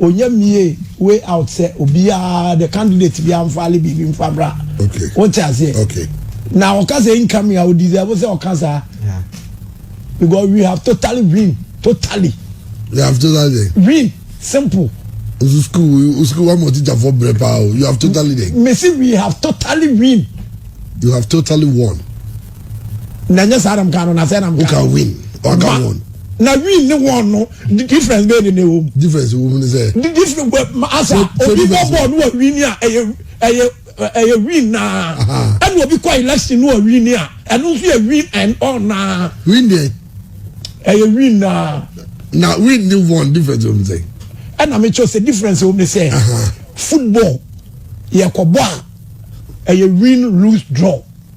Onya mie way out sɛ obiaa the candidate biaa nfaale biribi nfa mmra wote aseɛ na ɔka sɛ incoming a ɔdeserve sɛ ɔka saa because we have totally win totally we have totally win simple nso school school wa mɔ teacher fɔ brɛ paa o you have totally dɛ mesi we have totally win you have totally won. na nyɛ saa na mka no na sɛ na mka no win ɔka wɔn na win ne wɔn no difference bɛyɛ ne na ɛwɔ mu difference wɔ mu ne sɛ difference wɔ asa obi bɔ bɔɔl no wɔ win a ɛyɛ ɛyɛ ɛyɛ win naa ɛna obi kɔ election no wɔ win a ɛno nso yɛ win and all naa win deɛ ɛyɛ win naa na win ne wɔn difference wɔ mu sɛ ɛna mekyɛ sɛ difference wɔ mu ne sɛ football yɛkɔbɔ a ɛyɛ win lose draw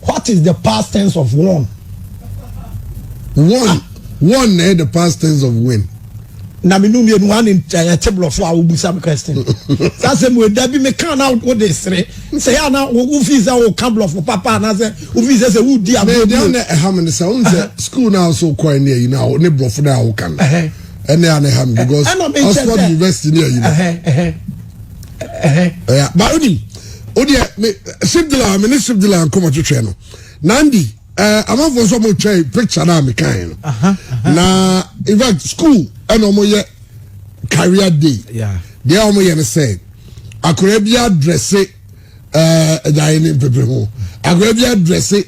What is the past tense of won? Won, won na ɛyɛ the past tense of win. Na me num yɛnu ane ɛte borɔfo a wobusa me question. Sɛ asɛ mu ɛda bi meka na wode sere. Sɛ yɛ ana wofi sɛ woka borɔfo papa anaasɛ wofi sɛ sɛ wodi agorɔ bi. Ɛna ɛha me ne sɛ wohu sɛ school no a so kɔe ne ayi no ne borɔfo no a woka no. Ɛna ɛha me because Oxford University ne ayi no. ɛyà ba onim o deɛ me sibdila me ne sibdila nkɔmɔ twitwɛ no nandi ɛɛ amanfoɔ nso ɔmo twɛ picture naa mi kan no na in fact school ɛna ɔmo yɛ career day deɛ ɔmo yɛ no sɛ akɔrɔ bi adrɛse. ɛɛ ɛda yɛ ne mpepere ho akora bi adrɛse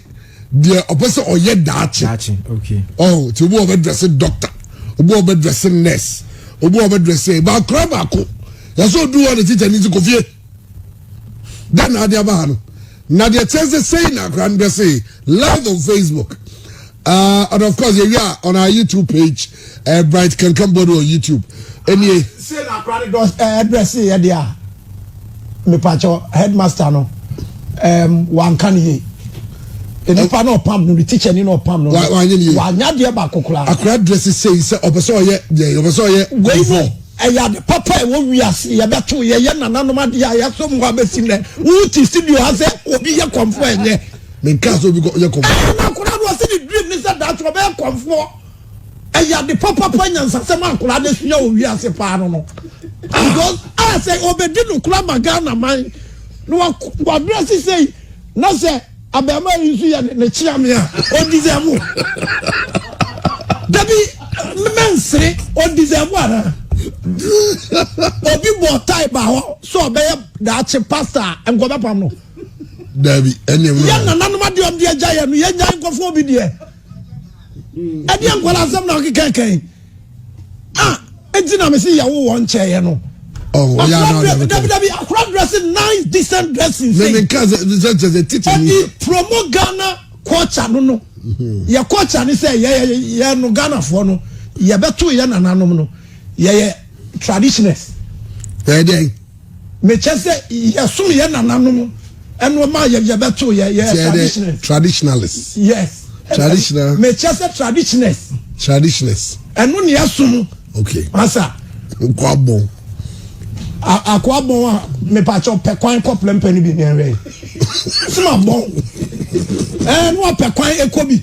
deɛ ɔpɛ sɛ ɔyɛ daakye ɔn ti obi ɔbɛ drɛse dɔkta obi ɔbɛ drɛse nɛs obi ɔbɛ drɛse ɛba akora baako yasɛ odu hɔ ne tikya ne ti kofie dan na adi aba ha no na deɛ kyɛn sɛ sɛyi na akora no drɛse live on facebook uh, and of course yɛ wi a on our youtube page. ɛɛ bright kankan bɔ no wɔ youtube ɛnie. se na akora ne dɔ ɛɛ brɛ se yɛ de a mepakyɛ headmaster no ɛɛm wanka ne yie nipa na ɔpam no ne teacher ni na ɔpam no wanya deɛ baako koraa. akora drɛ se sei sɛ ɔpɛ sɛ ɔyɛ deɛ ɔpɛ sɛ ɔyɛ. wei no ɛyɛ ade papa ɛwɔ wiase yɛbɛto yɛyɛ nananom adeɛ a yɛaso mu hɔ abɛsi nnɛ wote studio ha sɛ obi yɛ kɔmfoɔ ɛnyɛ menka sɛ obi yɛ kɔmfoɔ ɛna akora no ɔse ne dream ne sɛ daakye ɔbɛyɛ kɔmfoɔ ɛyɛ ade papapa nyansasɛm a nkwadaa no asua wɔ wiase paa no no because a ah, sɛ ɔbɛdi no kora ma ghana man na wabrɛ se sɛi na sɛ abɛɛma yi nso yɛ ne kyea me a ɔdisɛvo dabi mɛnsere ɔdisɛvo anaa obi bɔ tae ba hɔ sɛ ɔbɛyɛ daakye pasta a nkɔbɛpam no dabi ɛne yɛ nananom adeɛ ɔmde agya yɛ no yɛnya nkɔfoɔ bi deɛ ɛdeɛ nkwadaa asɛm na ɔkeka kan a ɛnti na mese yɛwo wɔ nkyɛeɛ no dabidabi akora dressing nice decent dressing ɛde promo ghana culture no no mhm. yɛ culture ne sɛ yɛyɛ no ghanafoɔ no yɛbɛto yɛ nananom no yɛyɛ traditioners ɛdeɛn Me kyɛ sɛ yɛ som yɛ nana nom ɛno ma yɛ yɛ bɛ to yɛ yɛ traditionalist traditionalist yes traditional me kyɛ sɛ traditionalist traditionalist ɛno ni ɛsom okay masa nkwabɔn akoa bɔn a mepakyɛ ɔpɛ kwan kɔ plɛmpɛ no bi ne ɛwɛ soma bɔn ɛɛ no apɛ kwan ɛkɔ bi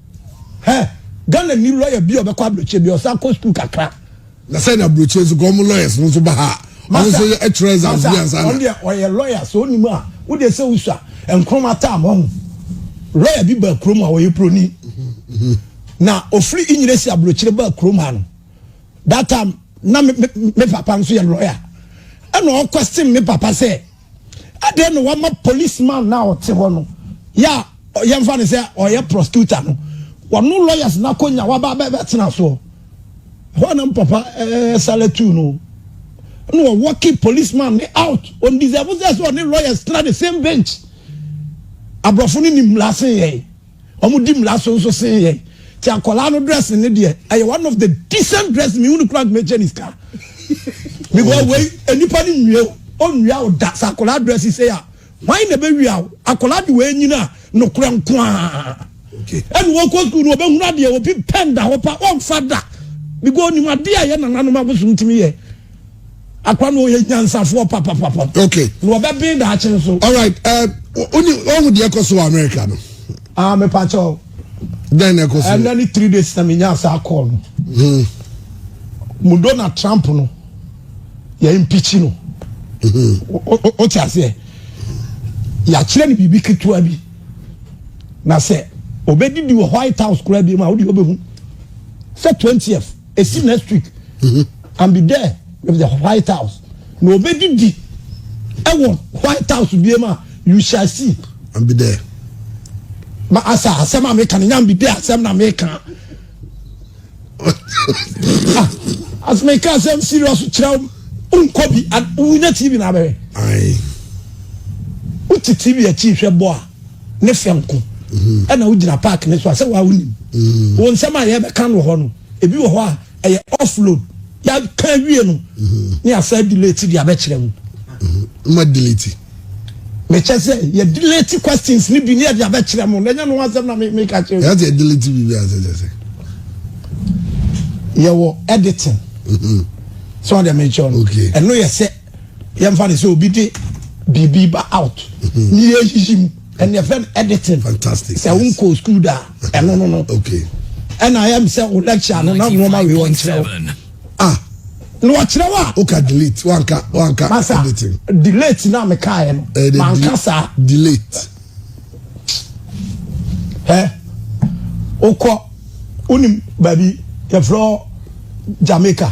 Hɛ Ghana nni lawyer bi a ɔbɛkɔ aburokyire bia ɔsan kɔ school kakra. Na sɛ na aburokyire nso kɔ ɔmo lawyers no nso ba ha a ɔmo nso yɛ ɛtwerɛ exams bi ansa na. Ɔno deɛ ɔyɛ lawyer sɛ ɔnim a wo deɛ sɛ wosua nkroma tam ɔho lawyer bi baa kurom a ɔyɛ broni na ofiri inyina si aburokyire baa kurom ha no that time na me, me, me papa nso yɛ lawyer ɛna ɔkɔ stem me papa sɛ. Adɛn na wama police man no a ɔte hɔ no yɛ a yɛmfa no sɛ ɔyɛ prosecutor no wɔno lawyers no akɔnya waba bɛtena soɔ hɔ anam papa sale tu no na wɔwɔ ki police man ne out on deserve sɛ sɛ ɔne lawyers tena the same bench aborɔfo no nim lase yɛn Ɔmo di mmra so nso sen yɛn. Nti akwadaa no dressing ne deɛ, ɛyɛ one of the decent dressing, mehu no koraa nti mekyɛ no sika. Because wei, nnipa no nwie wo, ɔnnwia wo da. Sɛ akwadaa dressing sei a, hwan na ɛbɛwia wo? Akwadaa de wei nyini a, nokorɛ nko ara. Ɛna ɔkɔ school no, ɔbɛhunu adeɛ, obi pɛn da hɔ pa, ɔmfa da. Because ɔnim adeɛ a ɛyɛ nananom abosom tumi yɛ. Akwa no ɔyɛ nyansafoɔ papapapa. Okay. Na ɔbɛben daakye nso. All right. Uh, oni ɔhu deɛ ɛkɔ so wɔ America no. Ah, me pa kyɛw. Then ɛkɔ so. Ɛnna ni three days na mi nya asa call no. Hmm. Mu Donald Trump no yɛ impeach no. Mm-hmm. O ti aseɛ. Yɛakyerɛ no biribi ketewa bi. Na sɛ obedidi wɔ White House koraa bi mu a, o de obɛhu. Sɛ twentieth. esi next week mm-hmm. and be there with the white house na obedidi ɛwɔ white house bie ma you shall see and be there ma asa asɛm a meka no nya be there asɛm na meka ah, as meka asɛm serious kyerɛ nkɔ bi wonya tv na abɛhwɛ wote tv akyi hwɛ bɔ a ne fɛ nko mm-hmm. ɛna wogyina park ne so a sɛ waa wonim mm-hmm. wɔ nsɛm a yɛbɛka no wɔ hɔ no ebi wɔ hɔ a ɛyɛ offload yɛaka awie no mm-hmm. ne asa delete de abɛkyerɛ mu ma delete mekyɛ sɛ yɛ delete questions ne bi ne yɛde abɛkyerɛ mu na ɛnyɛ no asɛm na meka kyerɛ yɛ sɛ delete biribi asɛ kyɛ sɛ yɛwɔ editing sɛ ɔde mekyɛ no ɛno yɛ sɛ yɛmfa ne sɛ obi de biribi ba out ne yɛyiyi mu ɛne ɛfrɛ no editing sɛ wonkɔɔ school da ɛno no no ɛna ɛm sɛ wo lecture no na nnoɔma wei wɔnkyerɛ wo ah na wɔkyerɛ wo a woka delete wanka wanka masa editing delete na mekaeɛ no eh, manka saa delete ɛ wokɔ wonim baabi yɛfrɛ jamaica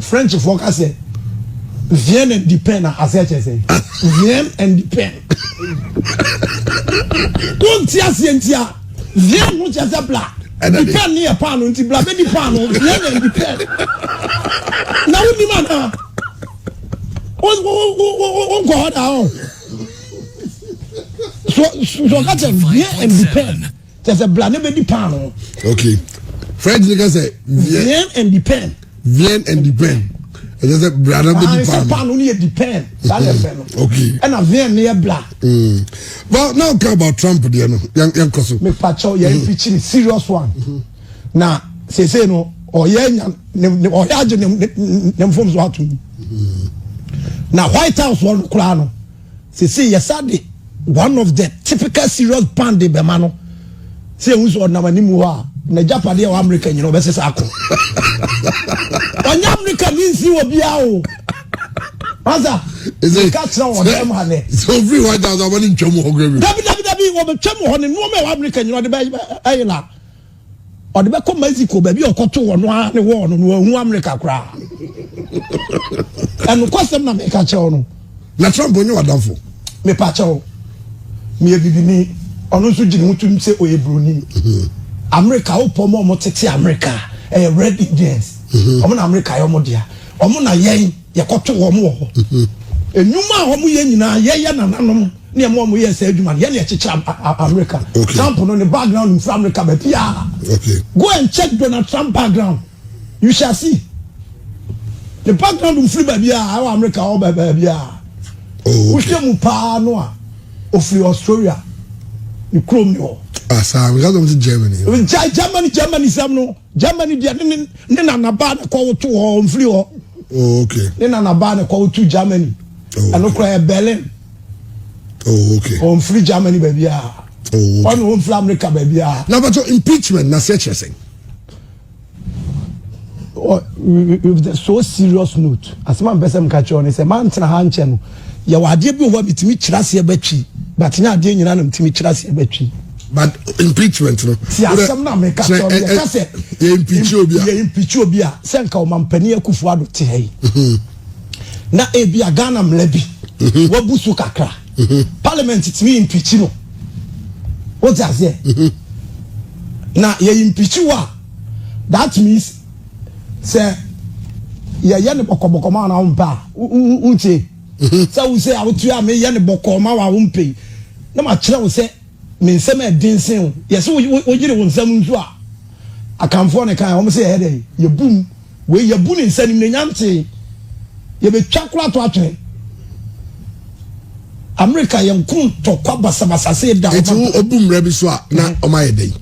Frenchfoɔ ka sɛ vien and di pen a asɛ kyɛ sɛ vien and di pen wonti aseɛ nti a vien ho kyɛ sɛ bla di pen ne yɛ paano nti bla bɛdi paano vien and di pen na wonim anaa wonkɔ hɔ daa ɔ so so ɔka kyɛ vien and di pen kyɛ sɛ bla no bɛdi paano okay french no ka sɛ vien and depend vien and depend ɛkyɛ sɛ bla no bɛdi ah, paano paano no yɛ depend saa na ɛfɛ no okay ɛna vien no yɛ bla hmm. well now ka about trump deɛ no yɛnkɔ so mepakyɛw yɛn hmm. pikyiri serious one hmm. na sese no ɔyɛ nya ne ɔyɛ agye ne ne mfom so ato mu na white house wɔn koraa no. Sesei yɛsan de one of the typical serious band de bɛma no sɛ yɛhu sɛ ɔnam anim hɔ a n'agyapadeɛ wɔ Amerika nyina ɔbɛsesa ako. Ɔnyɛ Amerika ni nsi wɔ biara o. Asa, nka kyerɛ wɔ dɛm ha nɛ. Sɛ ofiri hɔ agya sɛ ɔbɛne ntwam hɔ kura bi. Dabi dabi dabi wɔbɛtwam hɔ ne nnoɔma ɛwɔ Amerika nyina ɔde bɛyɛ la. Ɔde bɛkɔ Mexico baabi a ɔkɔtoo ɔno ara ne wɔɔ no no wahu Amerika koraa. Ɛnokwasɛm na meka kyɛw no. Na Trump onye wadamfo. Mepa kyɛw. Meyɛ bibini. Ɔno nso gyina ho tum sɛ ɔyɛ buroni. Mhm. Amerika wopɔ ma ɔmo tete Amerika ɛyɛ red Indians. Mhm. Ɔmo na Amerika yɛ ɔmo dea. Ɔmo na yɛn yɛkɔto wɔn wɔ hɔ. Mhm. Enwuma a ɔmo yɛ nyinaa yɛyɛ nananom. Ne ɛmoa ɔmo yɛɛ saa adwuma no yɛ na ɛkyekyere America. Okay. Trump no ne background mfiri America baabiara. Okay. Go and check Donald Trump background. You shall see. The background mfiri baabiara ɛwɔ America ɔwɔ baabiara. Oh, okay. Wohwɛ mu paa no a ofiri Australia ne kurom ne hɔ. Asa ah, nka sɔm ti Germany. Gya Germany Germany sɛm no Germany deɛ ne ne ne nanabaa ne kɔ woto hɔ mfiri hɔ. Oh, okay. Ne nanabaa ne kɔ woto Germany. Oh, okay. Ɛno kora yɛ Berlin. oh okay ɔnfiri germany baabi a oh okay ɔne ɔnfiri america baabi a na bɛtɔ impeachment na sɛ kyerɛ sɛn with a so serious note asɛm a mpɛ sɛ mka kyerɛ ɔne sɛ mantena ha nkyɛ no yɛwɔ adeɛ bi wɔ hɔ a metumi kyerɛ aseɛ bɛtwi but nyɛ adeɛ nyinaa na metumi kyerɛ aseɛ bɛtwi but impeachment no ti asɛm na meka kyerɛ ɔne yɛka sɛ yɛ impeach obi a yɛ impeach obi a sɛ nka ɔmampani akufo ado te ha yi na ebia Ghana mmara bi mhm. wabu so kakra mhm. parliament tumi impeach no wote aseɛ mhm. na yɛ impeach wo a that means sɛ yɛyɛ ne bɔkɔbɔkɔ ma na wompɛ a wontie sɛ wo sɛ awotu a meyɛ ne bɔkɔ ma wa wompɛ yi na makyerɛ wo sɛ me nsɛm a ɛden sen wo yɛsɛ woyere wo nsɛm nso a akanfoɔ ne kan wɔn sɛ yɛyɛ dɛ yɛbum Wei yɛbu no nsa anim na ɛnya ntee. Yɛbɛtwa koro ato atwene. Amerika yɛ nko ntɔkwa basabasa se da. Eti wo obu mmara bi so a na ɔma mm-hmm. yɛ dɛn?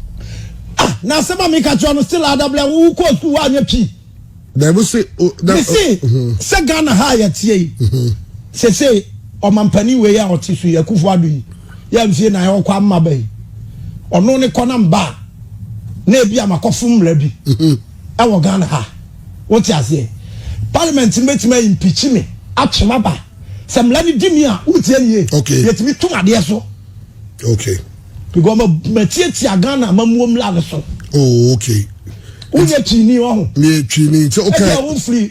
Ah, na asɛm a meka kyerɛ no still adabla wo kɔ sukuu woanyɛ pii. Dɛbi se. Mese mm-hmm. sɛ Ghana ha a yɛteɛ yi. Mm-hmm. Sese ɔmampanin wei a ɔte so yi akufo ado yi yɛ mfie na ɔkɔ ama bɛyi ɔno ne kɔ na mba na ebi amakɔfo mmara bi. wɔ Ghana ha. Wo te aseɛ? Parliament no bɛtumi a impeach me, atwe m'aba. Sɛ mmara no di me a, wo tie nie, okay. yɛtumi tom adeɛ so. Okay. Because ma ma tietia Ghana ma muo mmara no so. Oh, okay. Wonyɛ twini ɔho. Meyɛ twini nti okay. Ɛdi a wofiri.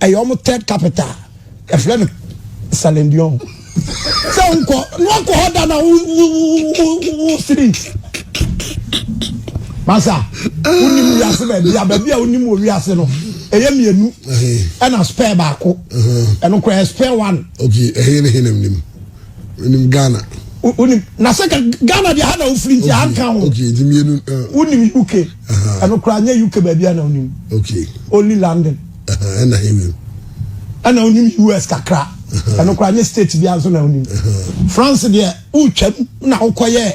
ɛyɛ wɔn third capital yɛfrɛ no salendion sɛ nkɔ na wakɔ hɔ da na wosiri masa wonim wiase baabi a baabi a wonim wɔ wiase no ɛyɛ mmienu ɛna spare baako ɛno kora yɛ spare one ok ɛhe ne he nam nim wonim ghana wonim na sɛ ghana deɛ ha na wofiri nti anka ho wonim uk ɛno koraa nyɛ uk baabi a na onim only london ɛna onim us kakra ɛno koraa nyɛ state bi nso na onim france deɛ wotwam na wokɔyɛ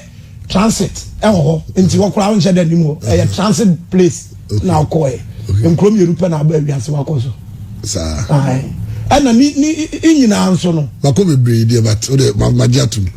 transit ɛwɔ hɔ nti hɔ koraa wonhyɛ dɛ nim hɔ ɛyɛ transit place na wokɔɛ nkuro mmienu pɛ na aba awiase wakɔ so saa ɛna ni ni nyinaa nso no. mako bebree deɛ but o de ma ma gye atum.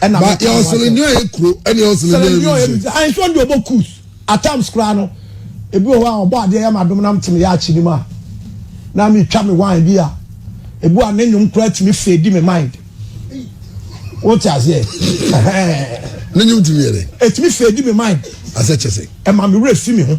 ɛna mi ka ho asɛm. selendin a yɛ kuro ɛna yɛ selendin a yɛ mi se. ayi sɔn di ɔbɔ kus at times koraa no ebi wɔ hɔ a ɔbɔ adeɛ yɛ ma dom nam te mi yɛ akyi ni mu a na mi twa mi wine bi a ebi a ne nyom koraa ti mi fɛ di mi mind o ti aseɛ ɛhɛn ne nyom ti mi yɛ dɛ eti mi fɛ di mi mind asɛ kyɛ sɛ ɛma mi wura fi mi ho.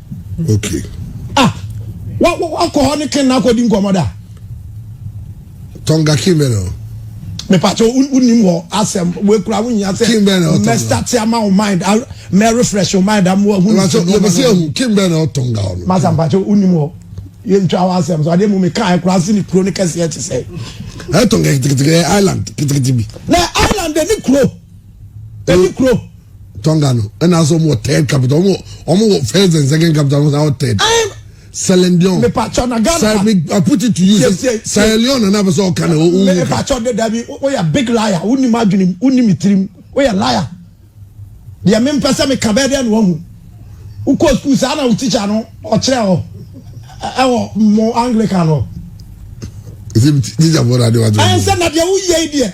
okay ah wa wa wa kɔ hɔ ne ken na akɔ di nkɔmɔ da. tɔnga kin bɛ na. mepatɛ wonim hɔ asɛm wekura wonya sɛ mɛstate ama wo mind mɛrefresh wo mind ama wahunɛbɛsɛ ahu kin bɛ na ɔtɔnga hɔ no masa mpatɛ wonim hɔ yɛntwa wo asɛm so adeɛ mu mekaɛ kora se ne kuro no kɛseɛ kye sɛ ɛtɔnga kitikiti island kitikiti bi na island ne kuro Ɛni kuro. Tonga no ɛna asɛ wɔn wɔ third capital wɔn wɔ wɔn wɔ first and second capital wɔn wɔ third. Sierra Leone. Mipatwa na Ghana. Sir, me, I put it to you. Sierra Leone na n'abɛsɛ ɔka na ɔwɔ wuka. Mipatwa de dabi o yɛ big liar o ni ma adwene o ni mi tirim o yɛ liar. Deɛ mi mpɛ sɛ mi ka bɛɛ deɛ na wɔn hu. Wokɔ sukuu saa na wo tikya no ɔkyerɛ hɔ ɛwɔ mo Anglican hɔ. Ɛsɛ mi tikya bɔ na adewa to. Ɛnsɛ na deɛ woyɛ yi deɛ.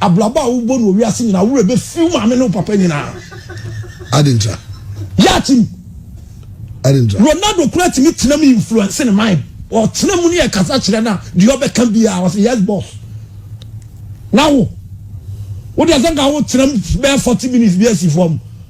Abrabɔ a wobɔ no wɔ wiase nyinaa, wo werɛ bɛfi wo maame ne wo papa nyinaa. Ade ntra. Yɛ atim. Ade ntra. Ronaldo kura tumi tena mu influence ne mind. Ɔtena mu ne yɛ kasa kyerɛ na deɛ ɔbɛka biara ɔsɛ yes boss. Na wo, wo deɛ sɛ nka wo tena mu bɛyɛ forty minutes bi asi fam.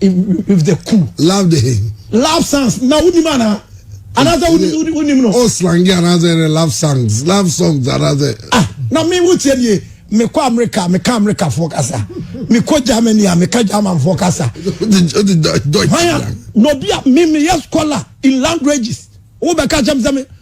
with the cool. love the hey. love songs na wonim ana anaasɛ wonim no. o slangi anaasɛ ne love songs love songs anaasɛ. ah na mi wo tiɛ nie mekɔ amerika meka amerikafoɔ kasa mekɔ germany a meka germanfoɔ kasa hwan a na obi a memeyɛ scholar in languages wobɛka kyɛm sɛ me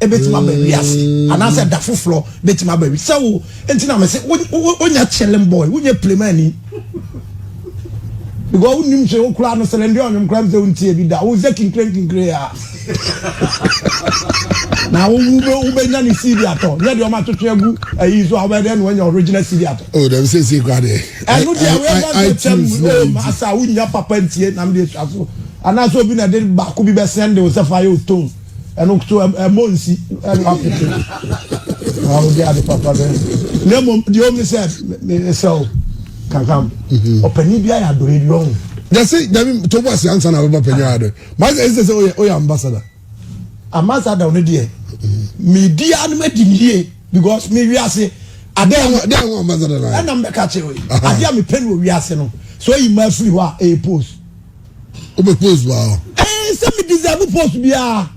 ebetumi aba awi ase anaasɛ da foforɔ betumi aba awi sɛ wo nti na mese wonya chilling boy wonya plemani because wonim sɛ wokura no sɛlɛ ndeɛ ɔnwom kora m sɛ wontie bi da wo sɛ kinkirenkinkire a na wobɛnya ne cd atɔ nyɛ deɛ ɔma twetwe agu ayi so a wobɛyɛ dɛ na woanya original cd atɔ oh, dɛm sɛ sie kora deɛ ɛno deɛ wɛdɛ sɛ kyɛm oh, asa wonya papa ntie nam deɛ sua so anaasɛ obi na de baako bi bɛsɛn de wo sɛ fa yɛ o tone ɛno nkoto ɛmɔ nsi ɛno apete na ɔde ade papa bɛ na mmom deɛ ɔmu sɛ ɛsɛ o kankam mhm. ɔpanyin bi ayɛ adɔyɛ bi ɔho. yɛsi dabi tó bɔ asi ansa na bɛba panyin ayɛ adɔyɛ maa sɛ ɛsɛ sɛ ɔyɛ ɔyɛ ambassador. ambassador ɔno deɛ mi di anum adi mi yie because mi wi ase adeɛ ho adeɛ ho ambassador na yɛ ɛna mbɛka kyerɛ o yi adeɛ mi pɛ ni o wi ase no so yi ma firi hɔ a ɛyɛ post. o bɛ post wa hɔ. ɛɛ sɛ mi deserve post biara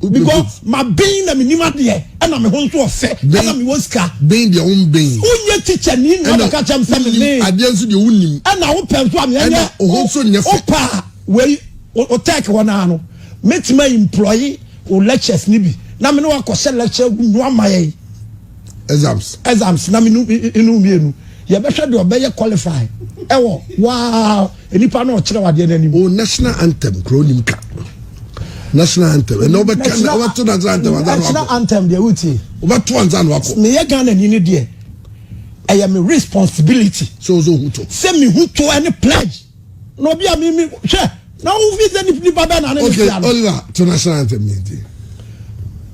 because ma ben na mi nim adeɛ ɛna mi ho nso ɔfɛ ɛna mi wɔ sika. ben deɛ o n ben. o n yɛ teacher ni na ɔbɛ kakyɛ mi sɛ mi ben. adeɛ nso deɛ o n nim. ɛna o pɛ nso ami ɛnyɛ o ho nso nyɛ fɛ. o pa wei o tɛk hɔ naa no mi ti ma employee o lectures ni bi na mi ni wa kɔ hyɛ lecture gu nua ma yɛ yi. exams exams na menu enu mmienu yɛbɛhwɛ deɛ ɔbɛyɛ qualify ɛwɔ waa nipa na ɔkyerɛ wadeɛ n'anim. o national anthem kuro nim ka national anthem ɛnna ɔbɛka na ɔbɛto national anthem ansa na wakɔ national anthem deɛ wotie ɔbɛto ansa na wakɔ. meyɛ ghana ni ne deɛ ɛyɛ me responsibility. sɛ ɔsɛ ohun to. sɛ mi hu to ɛne pledge. na obi a mimi hwɛ na wo fi sɛ nipa bɛɛ na ne ne tia no. oliver to na sena ntɛm yɛn ti.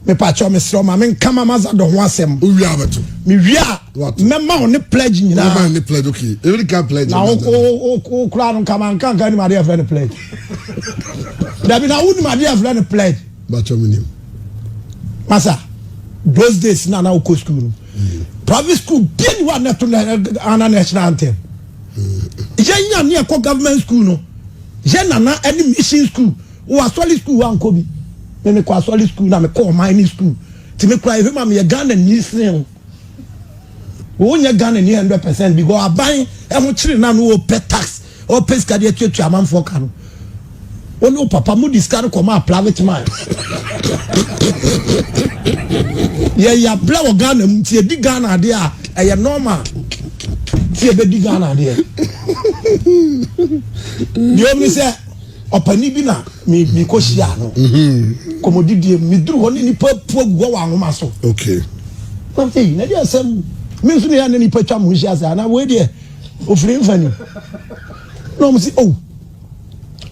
mepa kyɛw me serɛ ma me nka ma maza dɔ ho asɛm. o wia abɛto. me wia mɛma wo ne pledge nyinaa. mɛma ne pledge okay ebi ka pledge. na o o kura no nkama nkankan ni ma de yɛ fɛ ne pledge. dabi na wo ni ma de yɛ fɛ ne pledge. ba kyɛw mi ni mu. masa those days na na o kɔ school no. Mm. private school bia ni wa na to na ana na ɛhyɛn antɛm. yɛn nya ne ɛkɔ government school no yɛn nana ɛne mission school wɔ asɔre school wɔ ankɔ bi ne ne kɔ asɔre school na me kɔ ɔman ne school ti me kura ehwɛ ma me yɛ Ghana ni sin o wɔn nyɛ Ghana ni hundred percent because aban ɛho kyerɛ na no wɔ pɛ tax ɔpɛ sika de atuatua amanfoɔ ka no. Wo ne wo papa mode sika no kɔmaa private mine. Yɛn yɛabrɛ wɔ Ghana mu nti yɛdi Ghana adeɛ a ɛyɛ normal nti yɛbɛdi Ghana adeɛ. Deɛ ɔmi sɛ ɔpani bi na mekɔ hyia no mhm. kɔmɔdidie meduru hɔ ne nipa pua gu hɔ wɔ anwoma so. Okay. Nam sɛ yi na deɛ asɛm me nso ne yɛ ne nipa twa mo nhyia sɛ anaa wei deɛ ofiri mfani. Na wɔn se oh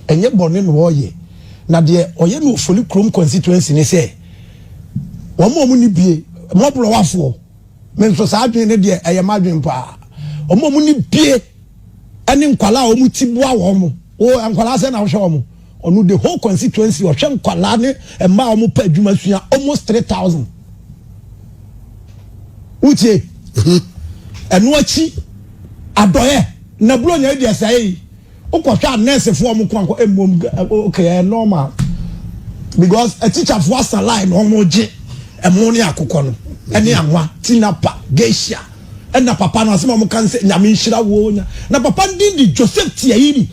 ɛnyɛ bɔne na ɔreyɛ na deɛ ɔyɛ no Ofoli kurom constituency ne sɛ wɔn a wɔn ni bie mmɔborɔwafoɔ me nso saa adwene ne deɛ ɛyɛ m'adwene paa wɔn a wɔn ni bie ɛne nkwadaa a wɔn ti boa wɔn o nkwadaa sɛ na wɔhwɛ wɔn Ɔno the whole constituency ɔhwɛ nkwadaa ne mmaa a wɔpɛ adwuma sua almost three thousand. Wotie? Ɛno akyi adɔyɛ na buronya yi deɛ sɛe yi wokɔhwɛ a nɛɛsefoɔ wɔn ko ankɔ mmom okay ɛyɛ normal because atikyafoɔ asa line na wɔn gye ɛmo ne akokɔ no ɛne anwa tinapa geisha ɛna papa no asɛm a wɔn ka no sɛ nyame nhyira wo na papa no din de Joseph Tiairi.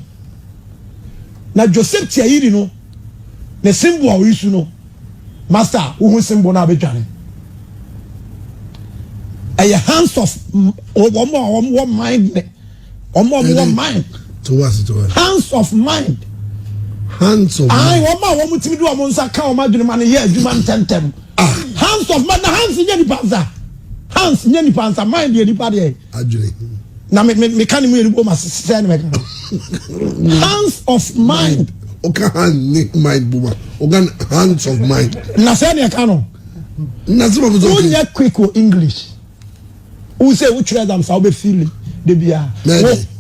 Na Joseph Tiayiri no ne Simbo a oyisu no master wohu Simbo no a bedwane ɛyɛ hands of wɔn a wɔn wɔ mind ne wɔn a wɔn wɔ mind hands of mind hands of mind ayi wɔn a wɔn timi de wɔn nsa ka wɔn adwene ma no yɛ adwuma ntɛntɛm ah. hands of mind na hands nyɛ nipa nsa hands nyɛ nipa nsa mind yɛ nipa deɛ. adwene. na me me meka ne mu yɛn bom ase sɛ ne mɛka no hands of mind. ɔka hand ne mind bom a ɔka hands of mind. na sɛ ne ɛka no. na sɛ bɛbɛ sɛ ɔkè. wonyɛ quick wɔ english wosɛ wotwerɛ dam saa wobɛfili de biara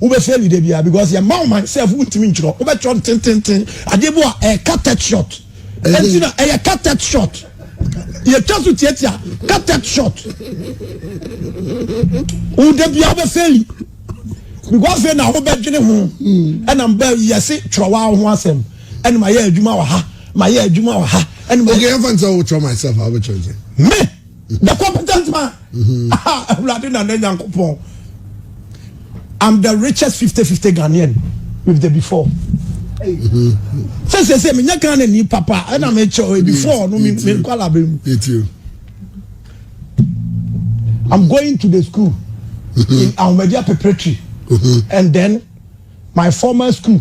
wobɛfili de biara because yɛ ma ɔman sɛ fo wontumi ntwerɛ wobɛtwerɛ ntententen adeɛ bi a ɛka tech shot ɛnti na ɛyɛ ka tech shot. Yɛtwa so tiatia cut it short. Wo da bia wobɛ feli. Because afei na wobɛdwene ho. Ɛna mba yɛse twerɛ wa ho asɛm. Ɛna ma yɛ adwuma wɔ ha. Ma yɛ adwuma wɔ ha. Okay, I'm going to try myself. I'll be trying. Me, the competent man. Mm-hmm. Ah, Awurade na ne Nyankopɔn. I'm the richest 50-50 Ghanaian with the before. Mm-hmm. Say say say me nya Ghana ni papa and I'm sure before no me me kwala be mu. I'm going to the school mm-hmm. in Ahmadiyya preparatory and then my former school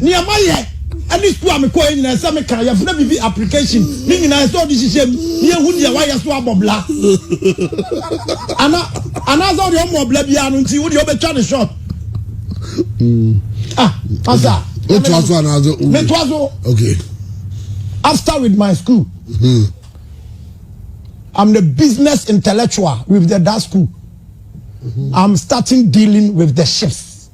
Nea mayɛ ne sukuu a mekɔeɛ nyinaa, ɛsɛ sɛ meka, yɛfrɛ biribi application, ne nyinaa ɛsɛ sɛ wode hyehyɛ mu na yɛhu deɛ woayɛ so abɔ bla. Ana, anaasɛ wode ɔmmɔ bla biara no nti, wodeɛ wobɛtwa ne short. Ah, asa. Wotoa so anaasɛ wo? Metoa so. Okay. After with my school. Hmm. I'm the business intellectual with the that school. Mm-hmm. I'm starting dealing with the ships.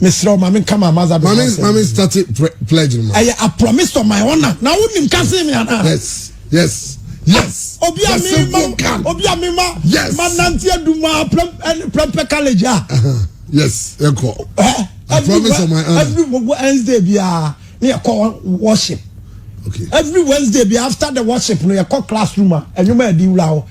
mesrɛ wo ma menka ma maza ma me ma me start pledge no ma ɛyɛ a promise to my honor na wonim ka se me ana yes yes yes ah, obi a me ma obi a me ma yes ma nante aduma prempɛ college a uh-huh. yes ɛkɔ eh, I promise to my honor every Wednesday bi a ne yɛkɔ worship okay every Wednesday bi after the worship no yɛkɔ classroom a ɛnwuma ɛdi wura hɔ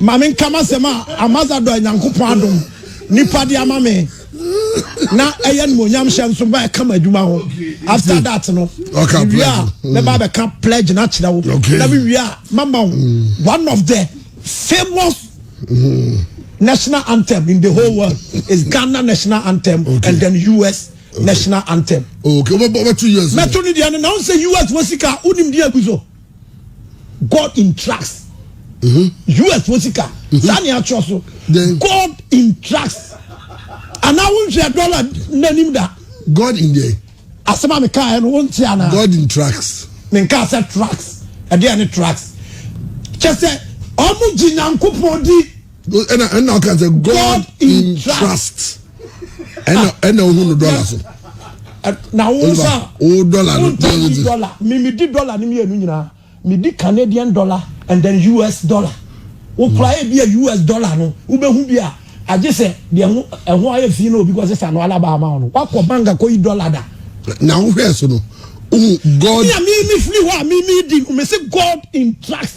Ma menka m'asɛm a Ambasadɔ a Nyankopɔn adom nipa de ama me na ɛyɛ animuonyam hyɛ nso ba ɛka m'adwuma ho after that no mewie a mɛba bɛka pledge no akyerɛ wo na mewie a mama wo mm. one of the famous mm. national anthem in the whole world is Ghana national anthem okay. and then US okay. national anthem. Okay, wọ́n bẹ tu US. Mẹ́tò ni diẹ ni na wọ́n sẹ US wọ́n sika wọ́n ni diẹ gu so. God in tracks. Mm-hmm. US fo sika. Mm-hmm. Saa ni atwerɛ so. God in tracks. Anaa wo nhwɛ dɔla n'anim da. God in there. Asɛm a meka yɛ no wo nti anaa. God in tracks. Menka sɛ tracks. Ɛdeɛ ne tracks. Kyɛ sɛ ɔmo gye Nyankopɔn di. ɛna ɛna ɔka sɛ god in trust ɛna ɛna ohu no dɔla so. na wo nsa o dɔla no di dɔla mimi di dɔla ni mienu nyinaa mi di canadian dollar and then us dollar wokura yɛ bi a us dollar no wobɛhu bi a agye sɛ deɛ ho ɛho ayɛ fi na obi kɔ sesa no alaba ama wo no wakɔ bank akɔ yi dɔla da. na wohwɛ so no god. mi a mi mi firi hɔ a mi mi di mi si god in trust.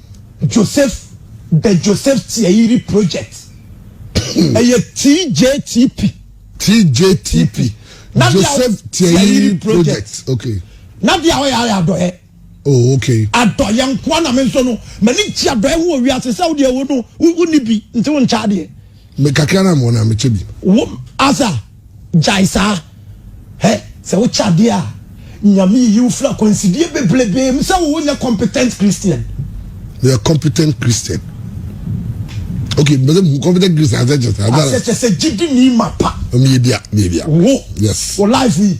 Joseph The Joseph Tiayiri Project ɛyɛ TJTP. TJTP Joseph Tiayiri Project okay. Na deɛ ɔyɛ ayɛ adɔyɛ. Oh okay. Adɔyɛ nkoa na me nso no m'ani gye adɔyɛ ho wɔ wiase sɛ wodeɛ wo no wonni bi nti wo nkyɛ adeɛ. Me kakra na mewɔ na mekyɛ bi. Wo asa. Gyae saa. Hɛ, sɛ wokyɛ adeɛ a, Nyame yiyi wo firi akwansideɛ bebrebee mu sɛ wo nyɛ competent Christian. Meyɛ competent Christian. Okay, mbese mu competent Christian asɛ kyɛ sɛ. Asɛ kyɛ sɛ gyidini mapa. Meyɛ bia, meyɛ bia. Wo. Yes. Wo life yi.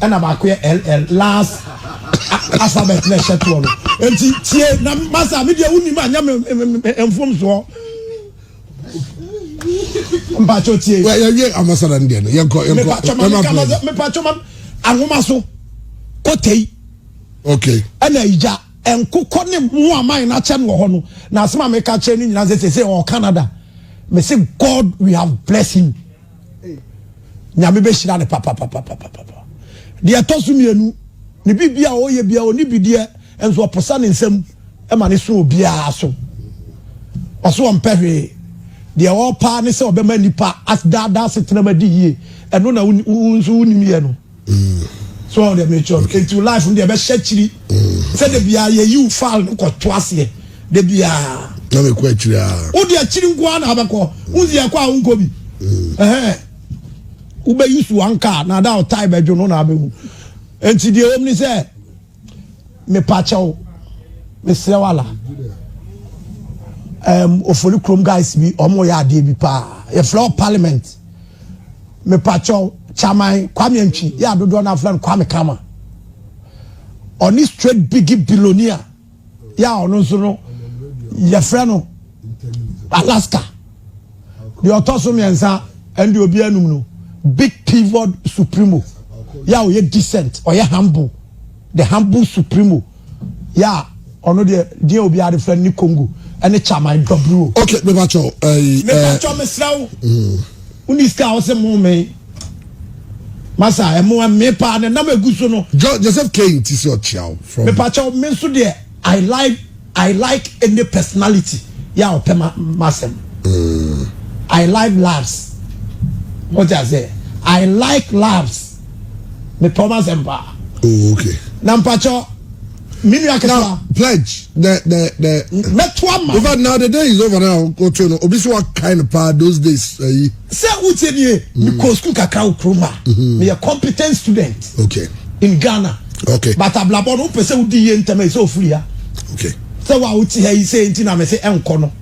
Ɛna baako yɛ LL, last alphabet na ɛhyɛ toɔ no. Enti tie na masa me deɛ wonim a nyɛ me mfomsoɔ. Mpacho tie. Wɛ yɛ wie ambassador no deɛ no yɛ nkɔ yɛ nkɔ. Mepacho ma mi kama sɛ mepacho ma ahoma so kotei. Okay. Ɛna igya nkokɔ ne mu aman na kyɛ no wɔ hɔ no na asɛm a meka kyerɛ ne nyinaa sɛ sɛ ɔwɔ Canada. Me se God we have blessed him. Nyame bɛhyira no papapapapapa. Deɛ ɛtɔ so mmienu, ne biribi a ɔyɛ biara ɔne bi deɛ nso ɔposa ne nsam ma ne so obiara so. Ɔso ɔmpɛ hwee. Deɛ ɔpaa ne sɛ ɔbɛma nipa asdaadaa asetenam adi yie. Ɛno na wo nso wonim yɛ no. so ɔde mekyerɛ no nti life no deɛ ɛbɛhyɛ akyiri sɛ da biara yɛyiw file no kɔto aseɛ da biara na mekɔ akyiri a wode akyiri nko ara na abɛkɔ wonsi ɛkɔ a wonkɔ bi wobɛyi so anka na ada ɔtae bɛdwo no na abɛhu nti deɛ wɔm ne sɛ Mepakyɛw, mesrɛ wo ala. Um, ofori krom guys bi, ɔmo yɛ adeɛ bi paa. Yɛfrɛ wɔ parliament. Mepakyɛw, chairman Kwame Antwi, yɛ adodoɔ no afrɛ no Kwame Kama. Ɔne straight biggie billionaire, yɛ a ɔno nso no, yɛfrɛ no Alaska. deɛ ɔtɔ so mmiɛnsa ɛne deɛ obi anum no big pivot supremo yɛ a ɔyɛ decent ɔyɛ humble the humble supremo yɛ a ɔno deɛ deɛ obi ade fɛ ne congo ɛne chaman dɔburo. ok mepa kyɛw ɛyi ɛɛ mepa kyɛw mesra wo wo ni sika a wɔsɛ mo me masa ɛmo ɛme paa ne nam egu so no. joseph kane ti sɛ ɔkyia wo. mepa kyɛw me nso deɛ. I like I like any personality yɛ a ɔpɛ m'asɛm. I like labs. Mo ti ase? I like labs. Me pɛ ɔmo asɛm paa. Oh okay. Na mpatsɔ mi nua ketewa. Now pledge the the the. Mɛto ama. Over now the day is over now. Otu no obi si wa kind paa those days ayi. Eh, Sɛ wotie nie, mekɔɔ sukuu kakra wɔ kurom a meyɛ competent student okay. in Ghana okay. but abrabɔ no wopɛ sɛ wodi yie ntɛm ɛsɛ ofiri ha okay. sɛ wo a wote ha yi sɛ nti na mese ɛnkɔ no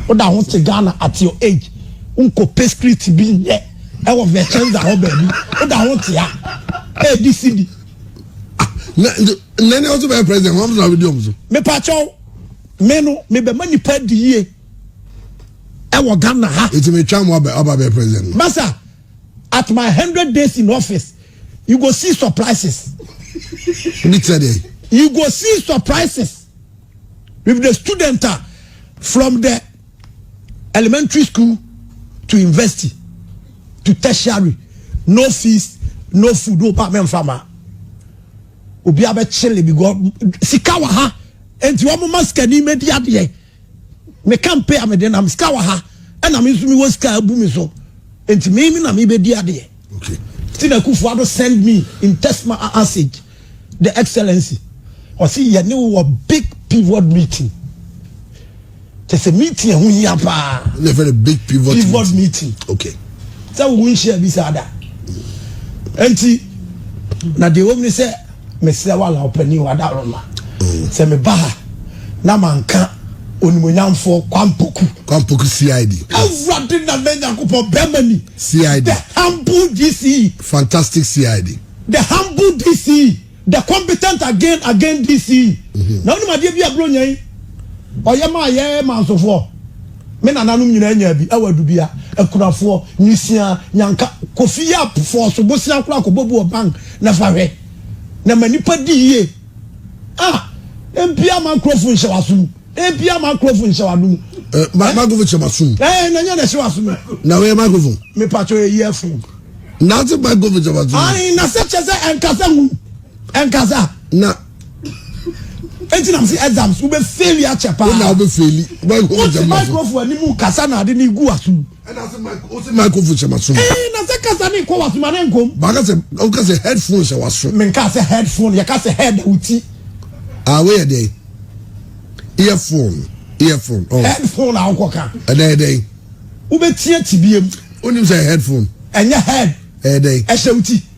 woda ho te Ghana at your age wonkɔ pɛ street bi nyɛ ɛwɔ vɛkyɛnza hɔ baabi woda ho te ha ɛdi si bi nane ɔso bɛyɛ president wɔn na wodi ɔmo so mepakyɛw me no mebɛma nipa di yie ɛwɔ ghana ha. eti mi twa mu aba aba bɛ president no. masa at my hundred days in office you go see surprises. ebi tẹ de. you go see surprises with the student ah, from the elementary school to university to tertiary no fees no food o ba mɛ nfa ma obi abɛ kyele bi gɔ sika wɔ ha nti wɔn ma sikani mɛ di adeɛ. Me kampe a mede nam sika wɔ ha ɛna me nso mewɔ sika abu me so nti me me na mebɛdi adeɛ okay. nti na Akufo Addo send me in text message the excellency ɔse yɛne wɔ big pivot meeting kyɛ sɛ meeting ɛho hia paa big pivot, pivot meeting okay. sɛ wo nhyia bi saa da nti na deɛ wɔm ne sɛ Mesrɛ wo Allan Ɔpanin o, Adaworoma, sɛ meba ha na manka Onimuonyamfoɔ Kwampoku. Kwampoku CID. Awurade Nana Nyankopɔn, Bɛrima Ni. CID. The humble DCE. Fantastic CID. The humble DCE. The competent again again DCE. Mhm. Na wonim adeɛ bi a Buronya yi ɔyɛ maa yɛ mansofoɔ? Me nananom nyinaa nyaa bi, ɛwɔ Adubia, Akunafoɔ, Nwisiaa, Nyanka, Kofi Yap, Fɔɔso, Bosea koraa kɔbɔ bu wɔ bank. Na fa hwɛ, na ma nnipa di yie a, na mpia ma nkurɔfo nhyɛ w'aso mu, na mpia ma nkurɔfo nhyɛ w'ado mu. Eh, ma eh? microphone hyɛ m'aso mu. Eh, na nyɛ na ɛhyɛ w'aso mu. Na wɔyɛ microphone. Mepatɔ yɛ yie fo. Na ase microphone hyɛ w'aso mu. Ayi, na sɛ kyɛ sɛ ɛnkasa hu, ɛnkasa. Na. Eti na mo si exams, wobɛ faili akyɛ paa. Wona wobɛ faili, microphone hyɛ m'aso. Woti microphone anim kasa na ade ne gu w'aso mu. ɛna sɛ mic o sɛ microphone hyɛ ma so. ɛɛ na sɛ kasa ne nkɔ waso ma ne nkom. baaka sɛ o ka sɛ headphone hyɛ waso. mi nka sɛ headphone yɛ ka sɛ head o ti. aa wo yɛ dɛ earphone earphone. Oh. headphone a nkɔ ka. ɛdɛ ɛdɛ. wo bɛ tiɛ ti bi yɛ mu. o nim sɛ headphone. ɛnyɛ head. ɛdɛ. ɛhyɛ o ti.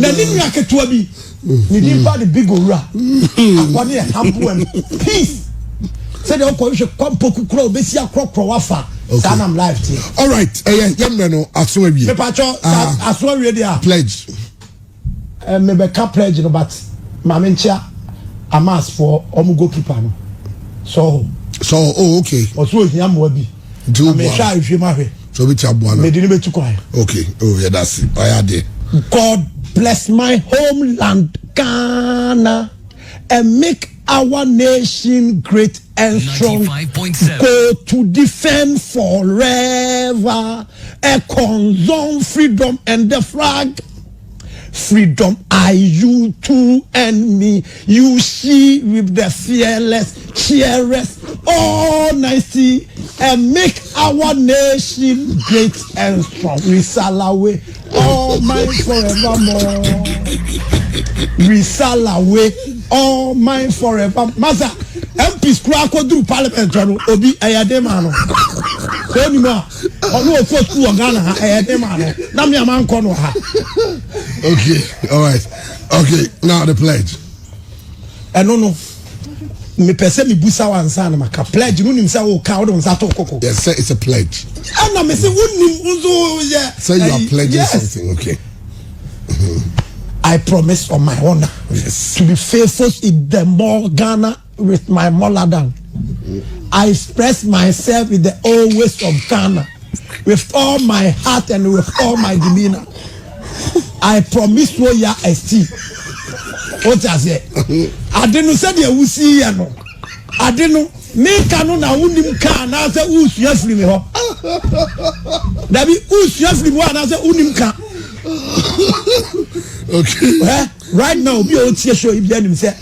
na ne nua ketewa bi ne din ba de big owura akɔ ne ɛhaboa mu peace sɛdeɛ wokɔhwehwɛ kwampɔku kora wobɛsi akorɔkorɔ wafa saa nam live teɛ alright ɛyɛ yɛmmerɛ no aso awie mepakyɛ ah. aso awie deɛ a pledge eh, mebɛka pledge no but ma menkyea amasfoɔ ɔmo goalkeeper no sɔho sɔho oh okay ɔso ohia mmoa bi nti wo bua no nhwɛ ma hwɛ so bi ti aboa no mede ne betu kwan okay oh yɛ da se ɔyɛ ade god bless my homeland ghana and make our nation great and strong go to defend forever a concern freedom and the flag Freedom I you too and me you she with the fearless cheerers all nicey and make our nation great and strong we salawe all mine forevermore we salawe all mine forever masa MPs kura akɔduru parliament no obi ɛyɛ den ma no sɛ onim a. ɔno ɔkɔ sukuu wɔ ghana ha ɛyɛ ne maa no na me a mankɔ no ha okay all right okay now the pledge ɛno no mepɛ sɛ mebusa wo ansa na maka pledge no nim sɛ woka wode wo nsa to koko yes sir it's a pledge ɛna me sɛ wonim nso yɛ sɛ you are pledging yes. something okay I promise on my honor yes. to be faithful in the more Ghana with my molar down I express myself with the old ways of Ghana with all my heart and with all my demeanor. I promise wo ya esti. O ti ase. Ade no sɛ deɛ wusi yɛ no. Ade no meka no na wonim ka anaasɛ wosua firi me hɔ. Dabi wosua firi me hɔ anaasɛ wonim ka. Okay. Right now obi a otie show ibi anim sɛ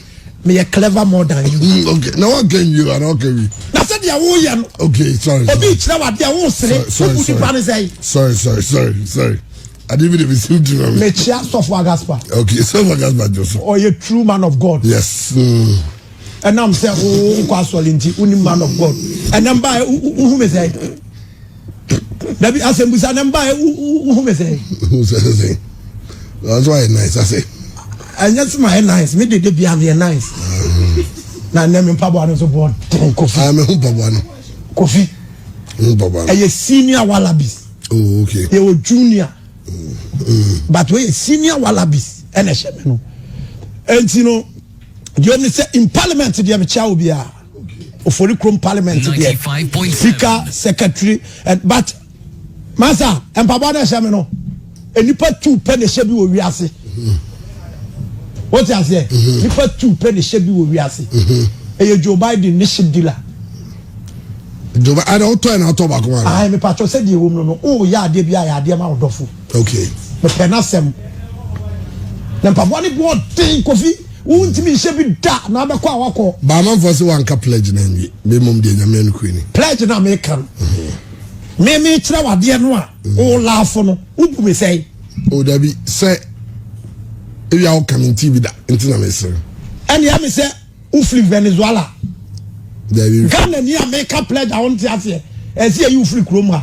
meyɛ clever more than you. Mm, okay na wa kɛ nwi wa na ɔkɛ wi. na sɛ deɛ wo yɛ no. okay sorry sorry obi kyerɛ wa deɛ wo sere obu nipa ne sɛyi. sorry sorry sorry sorry adi bi de bi si mi tiri ma mi. mekyia sɔfo agaspa. okay sɔfo agaspa jɔ so. ɔyɛ true man of god. yes. Mm. ɛnam sɛ wo nkɔ asɔre nti wo ni man of god ɛnam ba wo hu mi sɛ. dabi asɛmbusa na mba wohu me sɛ sɛsɛsɛ ɔso ayɛ nice asɛ ɛnyɛ so ma yɛ nice me dede bia meyɛ nice na nnɛ me mpaboa no so bɔɔ den kofi ah, meho mpaboa no kofi ɛyɛ senior wallabies oh, okay. yɛwɔ junior mm. but wɔyɛ senior wallabies ɛna ɛhyɛ me no ɛnti no deɛ ɔne sɛ in parliament deɛ mekyia wo biara ofori kurom parliament deɛ sika secretary eh, but masa mpaboa na ɛhyɛ mi no nipa tu pɛ na ɛhyɛ bi wɔ wiase o ti aseɛ nipa tu pɛ na ɛhyɛ bi wɔ wiase ɛyɛ joe biden ne ship dealer. joe biden ɛna ɔtɔ ɛna ɔtɔ baako ma. ayi mi pàtó sɛ deɛ wɔm no no o yɛ adeɛ bi a yɛ adeɛ ma ɔdɔfo. okay. mepɛ n'asɛm na mpaboa ne bu ɔden kofi. Wontumi nhyɛ bi da na abɛkɔ a wakɔ. Baamanfoɔ se wanka pledge no anwie me mmom deɛ nyame anukuri ni. Pledge na meka no. Mhm. Me me kyerɛ wadeɛ no a mhm. o laafo no wobu me sɛe. O dabi sɛ ebi a woka me nti bi da nti na mesere. Ɛne ɛme sɛ wofiri Venezuela. Dabi. Ghana ni a meka pledge a wonte aseɛ ɛsɛ yɛ yi wofiri kurom ha.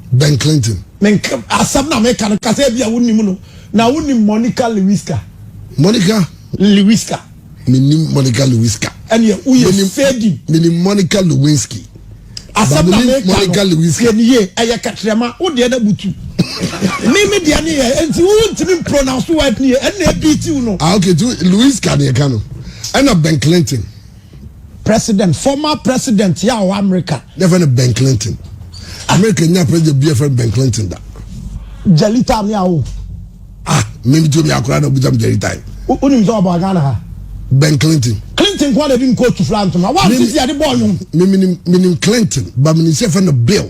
Ben Clinton. Me nka asɛm na meka no kasa ebi a wonim no na wonim Monica Lewiska. Monica. Lewiska. Menim Monica Lewiska. Ɛnìyɛ woyɛ fading. Menim Monica Lewinsky. Asɛm na meka no tiɛ ni yie ɛyɛ kɛtrɛma wo deɛ na butu. Mi mi deɛ ni yɛ nti wo ntumi pronounce word ni yɛ ɛnna ebi ti wo no. Ah okay tu Lewiska ni ɛka no ɛnna Ben Clinton. President former president yɛ a ɔwɔ America. Yɛfɛ no Ben Clinton. America nya president bi yɛfɛ no Ben Clinton da. Jalita mi awo. Ah, mi mi ti omi akora na obusa mi Jalita yi. O ni mi sɛ ɔbɔ Ghana ha. Ben Clinton. Clinton kwan na ebi nkootu fila ntoma. Wa ti ti adi bɔ ɔnyom. Mi mi ni mi ni Clinton ba mi ni sɛ yɛfɛ no Bill.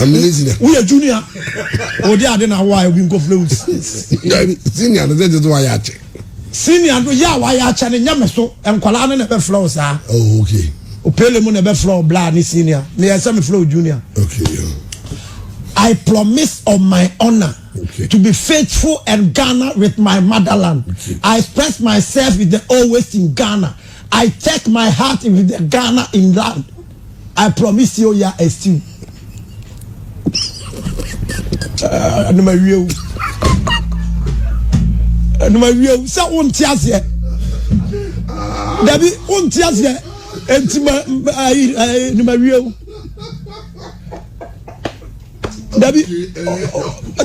amene senior. woyɛ junior odi ade na awa ebi nkɔfrɛ wo dabi senior no sɛ gye so wayɛ akyɛ senior no yɛ a wayɛ akyɛ no nyɛ me so nkwadaa no na ɛbɛfrɛ wo saa oh, okay. opele mu na ɛbɛfrɛ wo bla ne senior na yɛ sɛ mefrɛ wo junior okay, yeah. I promise on my honor okay. to be faithful and Ghana with my motherland. Okay. I express myself with the always in Ghana. I take my heart with the Ghana in land. I promise you ya a stew. Ɛnum awie o. Ɛnum awie o. Sɛ o nti aseɛ. Dabi o nti aseɛ. Eti ma ayi ayi ɛnum awie o. Dabi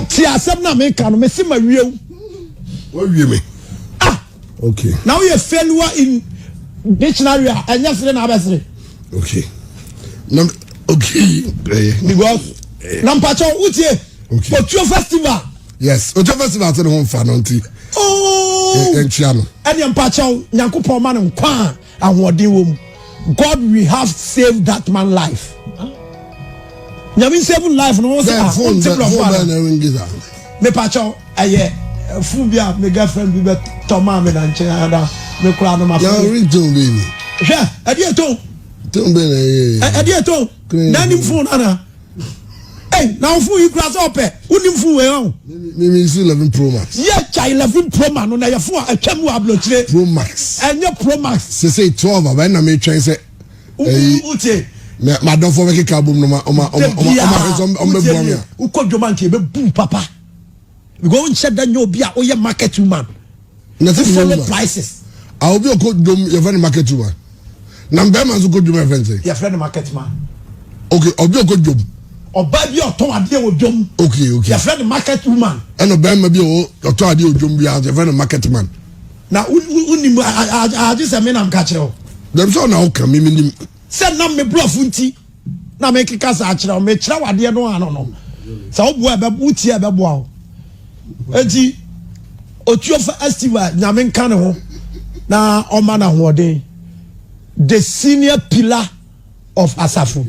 ti asɛm na mi ka no mi si ma wie o. Wọ́n wie mi. Okay. Na woyɛ failure in dictionary a ɛnyɛ sere na abɛsere. Okay. Na okay. Eh. Because eh. na mpatsɔ wotie. Okay. Otuo festival. Yes, Otuo festival ti ne ho nfa no nti. Ooo. Oh. Ɛnkyia no. Ɛni mpatsɔ nyankopɔn ma no nkwa. Ahoɔden wɔ mu. God we have save that man life. Nyame save life no wɔn sɛ ah wɔn ti blɔfo ara. Mepakyɛw ɛyɛ eh, fun bi a me girlfriend bi bɛ tɔ maa mi na nkyɛn ada me kura no ma fɛ. Yàrá orí tó bẹ́ẹ̀ ni. Hwẹ́ ẹ̀dí ètò. Tó bẹ́ẹ̀ ni ẹ̀yẹ. Ẹ̀dí ètò. Náà ni fún un nana. Hey, na ɔfo yi kura sɛ ɔpɛ wonim fo wei ɔn. Mimi si eleven pro max. Yɛ kya eleven pro max no na yɛ fo a atwa mu ablokyire. Pro max. Ɛnyɛ pro max. Sese twelve abɛn na mi twɛn sɛ. Ɛyi wote. Na ma dɔfo bɛ keka abom no ma ɔma ɔma ɔma ɔma hwɛ sɛ ɔma bɛ bua mi a. Wokɔ dwom anka ebe bu papa. Because nhyɛ da nyɛ obi a oyɛ market woman. na ɛsɛ follow prices. a obi ɔkɔ dwom yɛfrɛ no market woman na mbɛrima nso kɔ dwom yɛfrɛ no sɛ. yɛfrɛ no market man. ok obi ɔkɔ dwom. ɔbaa bi ɔtɔn adeɛ wɔ dwom. ok ok yɛfrɛ no market woman. ɛna ɔbɛrima bi ɔtɔn adeɛ wɔ dwom bi a yɛfrɛ no market man. na wonim agye sɛ me nam ka kyerɛ wo. dɛm sɛ ɔna woka me menim. sɛ nam me borɔfo nti. na mekeka saa kyerɛ wo mekyerɛ wo adeɛ no ano no sɛ woboa ɛbɛ wotie a ɛbɛboa wo enti otuofa estiva nyame nka ne ho na ɔma no ahoɔden the senior pillar of asafo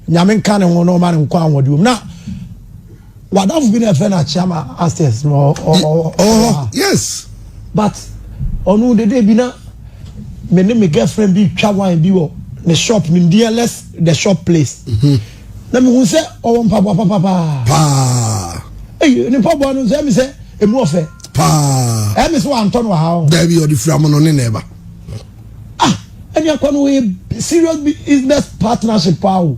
nyame nka ne ho na ɔma no nkɔ ahoɔden na wadafo bi na ɛfrɛ no akyama upstairs no ɔwɔ yes but ɔno dede bi na me ne me girlfriend bi twa wine bi wɔ ne shop nimdeɛ less the shop place mhm. na mehu sɛ ɔwɔ mpaboa papapaa paa eyi ne mpaboa no sɛ mi sɛ emu ɔfɛ paa ɛmi sɛ wantɔ no ha o dɛbi ɔde fira mu no ne na ɛba ah ɛni akɔ no yɛ serious business partnership paa o.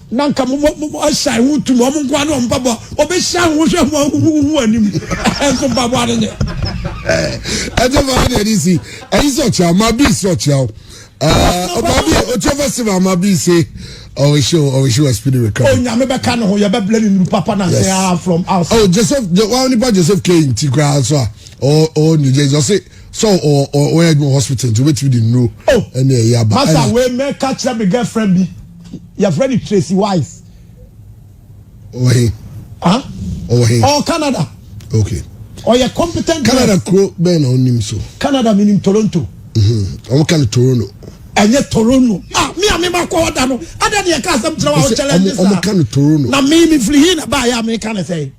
na nka mo mo mo ahyɛn ho tum wɔn nkoa ne wɔn mpaboa wɔbɛhyia ho hwɛ ho ahuhuhu anim nso mpaboa no nyɛ. ɛnyɛ maa deɛ ne si ɛyi sɛ ɔkyerɛ ɔma bi si ɔkyerɛ o ɔma bi ɔkyerɛ festival ɔma bi se ɔwɔ show ɔwɔ show ɛspini wɛ kan. onyame bɛka ne ho yɛbɛbla ne nuru papa na sɛ aa from outside. ɔ oh, joseph wa nipa joseph kane nti koraa nso a ɔ ɔ new jersey ɔse sɛ ɔ ɔ ɔyɛ adwuma hospital nti obetumi de nuro ɛne ɛyɛ aba. masa wei mɛka kyerɛ me girlfriend bi. yɛfrɛ no tracy wise ɔwɔ he ah ɔwɔ he ɔwɔ canada okay ɔyɛ competent canada kuro bɛn na ɔnim so canada menim toronto ɔmo ka no toronto ɛnyɛ toronto ah mi a mi ma kɔ ɔda no ada deɛ ka asɛm kyerɛ wa ɔkyɛlɛ ɛnyɛ saa ɔmo ka no toronto na mi mi firi hin na ba yɛ a mi ka ne sɛ.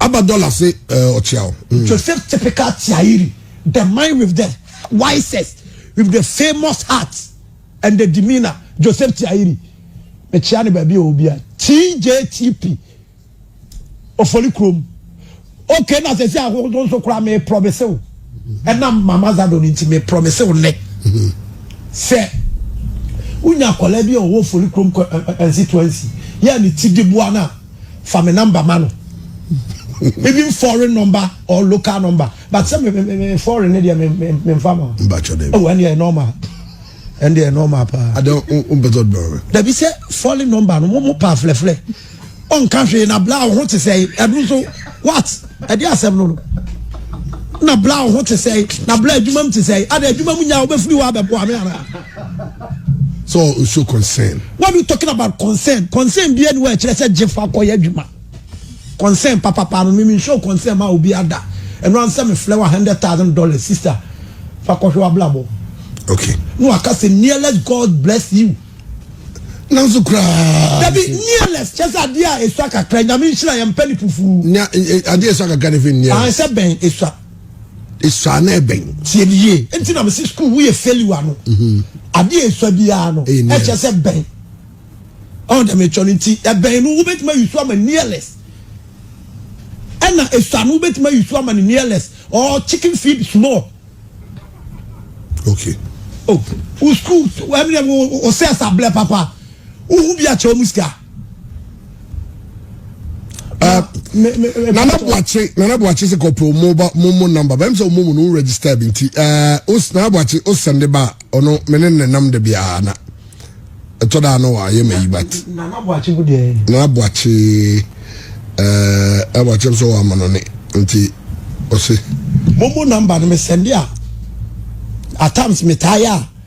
Aba dollar se eh, ɔkyeaw. Mm. Joseph typical tiairi, the man with the wisest, with the famous heart and the demeanor. Joseph tiairi. Mekyia ne baabi a obi a. TJTP. Ofoli krom. Okay na sɛ sɛ ahodoɔ nso koraa me promise wo. Ɛnam mama zado no nti me promise wo nnɛ. Sɛ wonya akwadaa bi a ɔwɔ ofoli krom constituency yɛ ne ti de boa no a fa me number ma no even foreign number or local number but sɛ me me me me foreign ne deɛ me me me nfa ma. n b'a kyɔ dɛ. ɛwɔ ɛni yɛ normal ɛni yɛ normal paa. adé o o bɛ tɔ dɔrɔ. dabi sɛ foreign number no mo mo pa filɛfilɛ ɔ nka hwee na bla ɔho te sɛ ɛdu nso what ɛdi asɛm no no na bla ɔho te sɛ na bla adwuma mu te sɛ adé adwuma mu nya ɔbɛ firi hɔ abɛ bɔ ame ara. So o show concern. What are you talking about concern? Concern bi enu ɛkyerɛ sɛ gye fa kɔ yɛ adwuma. Concern papapa no mimi show concern ma obi ada. Ɛno ansɛ me flɛ wa hundred thousand dollars sister fa kɔhwɛ wa blabɔ. Okay. No aka sɛ nearless God bless you. Nanso koraa. Dabi nearless kyɛ sɛ adeɛ a esua kakra nyame nhyira yɛn mpɛ ne fufu. Nya adeɛ esua kakra ne fi nearless. Ahɛn sɛ bɛn esua. Esua no yɛ bɛn? Tie me yie. Nti na mesi sukuu wo yɛ failure no. Mhm. Adeɛ a esua biara no, ɛkyɛ sɛ bɛn. Ɔn dɛm etwa no nti, ɛbɛn no wobɛtumi ayi so ama nearless. Ɛna esua no wobɛtumi ayi so ama ne nearless or chicken feed small. Okay. Oh, wo sukuu, ɛmi dɛ, wo sɛ ɛsa blɛ papa. Wohu bi akyɛ wɔn sika. nana buakye nana buakye sɛ kɔpɛ ɔmo ba mo mo namba bɛm sɛ ɔmo mu no register bi nti ɛɛ os nana buakye o sɛnde ba ɔno me ne ne nam de biara na ɛtɔ da ano wa yɛ ma yi bat nana buakye bu deɛ nana buakye ɛɛ nana buakye nso wɔ ama no ne nti ɔse mo mo namba no me sɛnde a at times me taa yɛ a.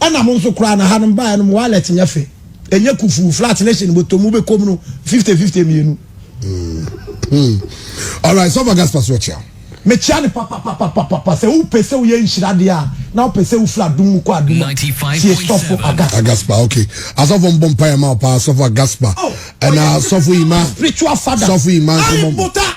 Ɛna mo nso koraa na ha no mo baeɛ no mo wallet nyɛ fɛ. Ɛnyɛ kufuu flat ne hyɛn bɔtɔ mu bɛkɔm no fifty fifty mmienu. Hmm. Alright, sɔfo Gaspar so ɔkyea. Mekyea ne papapapapapa sɛ wopɛ sɛ woyɛ nhyira deɛ a na wopɛ sɛ wofiri adom mu kɔ adom a tie sɔfo Agaspa. Agaspa okay. Asɔfo mbɔ mpaeɛ ma wo paa sɔfo Agaspa. Oh, ɛna sɔfo Ima. Spiritual father. Sɔfo Ima nso mbɔ.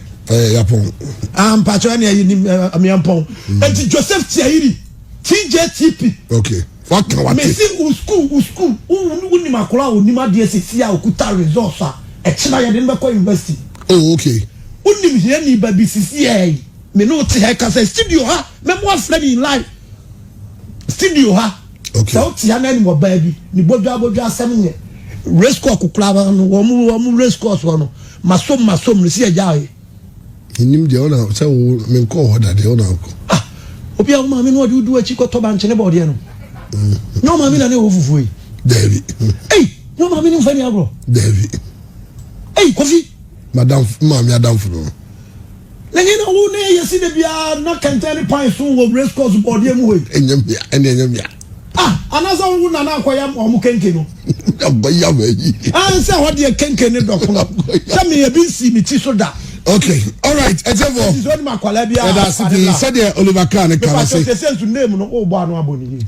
ɛyɛ yapɔn. ah mpatsɔ ɛni ɛyi ni miampɔn eti joseph tiayiri tjtp. ok waka wate. mesi u school u school u unim akora a onim adeɛ sisi a okuta results a ɛkyina yɛde no bɛkɔ university. oh ok. unim hiani ba bi sisi ɛyi me ne o te ha ɛkasa studio ha mɛmo afrɛ ne live studio ha. Okay. Sɛ wote anan mu ɔbaa bi ne bodwa bodwa asɛm nyɛ. Race course kokora ba no wɔn mu wɔn mu race course wɔ no masom masom no si agya ayɛ. Nim deɛ ɔna sɛ wo menkɔ hɔ da deɛ ɔna akɔ. Ah obi a wo maame no ɔde wodu akyi kɔtɔ bankyene bɔɔdeɛ no. Nyɛ wo maame na ne wɔ fufuo yi. Daabi. Ei nyɛ wo maame ne mfa ni agorɔ. Daabi. Ei kofi. Madam maame adamfo no. N'enyi na wo ne yesi da biara na kɛntɛn ne pan so wɔ race course bɔɔdeɛ mu hɔ yi. Ɛnyɛ mmea, ɛne ɛnyɛ mmea. Ah, anaasɛ wo nana akɔya ma ɔmo kenke no. Abɔya ma yi. Ah, nsɛ hɔ deɛ kenke ne dɔkono. Sɛ me ebi nsii me ti so da. Okay, all right, ɛtiɛfoɔ. Ɛti sɛ ɔnim akwadaa bi a. Ɛda ase pii sɛdeɛ Oliver Kahn ne kan ase. Mepa sɛ sɛ sɛ nsu name no o bɔ ano abɔ ne yie.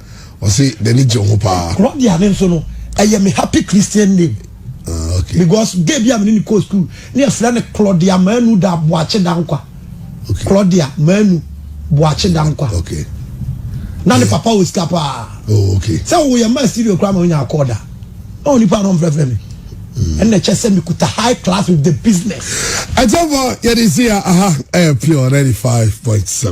ɔsi n'ani gye ho paa. Claudia ne nso no ɛyɛ me happy christian name. Uh, okay. because gay bi a mene ne kɔ school ne ɛfrɛ no claudia manu da boakye da nkwa okay. claudia manu boakye da nkwa okay. na ne papa wɔ sika paa oh, okay. sɛ woyɛ ma studio koraa ma wonya akɔɔ da na onipa no mfrɛfrɛ me ɛna kyɛ sɛ mekuta high class with the business ɛkyɛmfɔ yɛde si a aha ɛyɛ pure 95.7